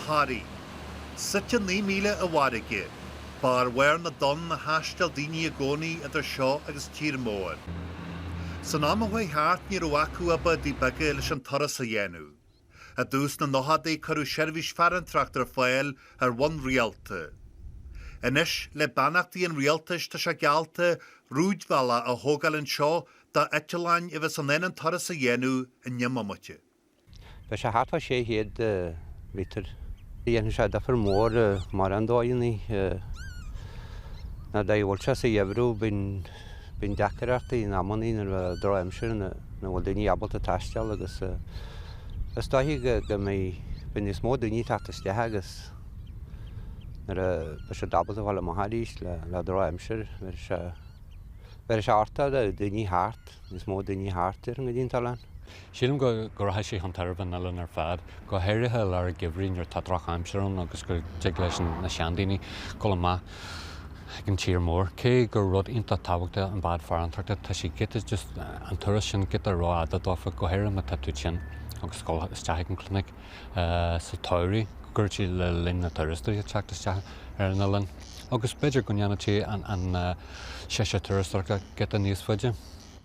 Toraí. Suite naoi míle i bhfarraige, ba ar bharr na dtonn a thaisteal daoine i gcónaí idir seo agus tír mór. San am a chuaigh thart ní raibh acu ach bádaí beaga leis an turas a dhéanamh. I dtús na nóchaidí cuireadh seirbhís farantóireachta ar fáil ar bhonn rialta. Anois le beannachtaí an rialtais tá sé geallta rúidbhealach a thógáil anseo do eitleáin a bheas in ann an turas a dhéanamh i ndeich mbomaite. Beidh sé thart fá 600 méadar. Dhéanfaidh sé difear mór mar an dóigh a bhfuil sé sa gheimhreadh, bíonn deacrachtaí in amannaí nuair a drochaimsir nach bhfuil daoine ábalta taisteal agus is dóiche go mbeidh beidh níos mó daoine teacht isteach agus nuair a beidh siad ábalta fáil amach arís le le drochaimsir bhéarfaidh sé bhéarfaidh sé sórt daoine thart, níos mó daoine thart déarfainn go dtí an t-oileán. Sílim go rachaidh sé chun tairbhe an oileáin ar fad, go háirithe i lár an gheimhridh nuair atá drochaimsir ann agus go dtig leis na seandaoine dul amach chuig an tír mór. Cé gur rud iontach tábhachtach an bád farantóireachta, tá sé giota, just an turas sin, giota rófhada dófa, go háirithe má tá tú tinn agus ag dul isteach ag an gclinic sa tsamhradh, go gcuirfeadh sé le líon na turasóirí teacht isteach ar an oileán. Agus b'fhéidir go ndéanfadh sé an séasúr turasóireachta giota níos faide.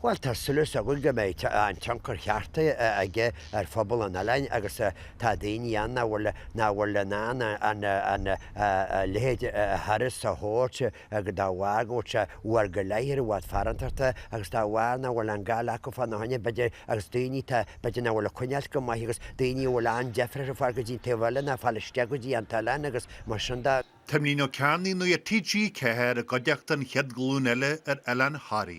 Bhuel, tá súil is againn go mbeidh an tionchar cheart aige ar phobal an oileáin agus tá daoine ann nach bhfuil nach bhfuil in ann an an a leithéid de thuras a thabhairt de bharr go bhfuil sé uair go leith ar bhád farantóireachta agus de bharr nach bhfuil an goile acu fá na choinne b'fhéidir agus daoine atá b'fhéidir nach bhfuil ag coinneáilt go maith agus daoine a bhfuil an-deifir acu fáil go dtí an taobh eile ná fáil isteach go dtí an t-oileán agus mar sin de Tiomnaíonn Ó Cearnaigh Nuacht TG4 i gcuideachta an chéad ghlúin eile ar Oileán Thoraí.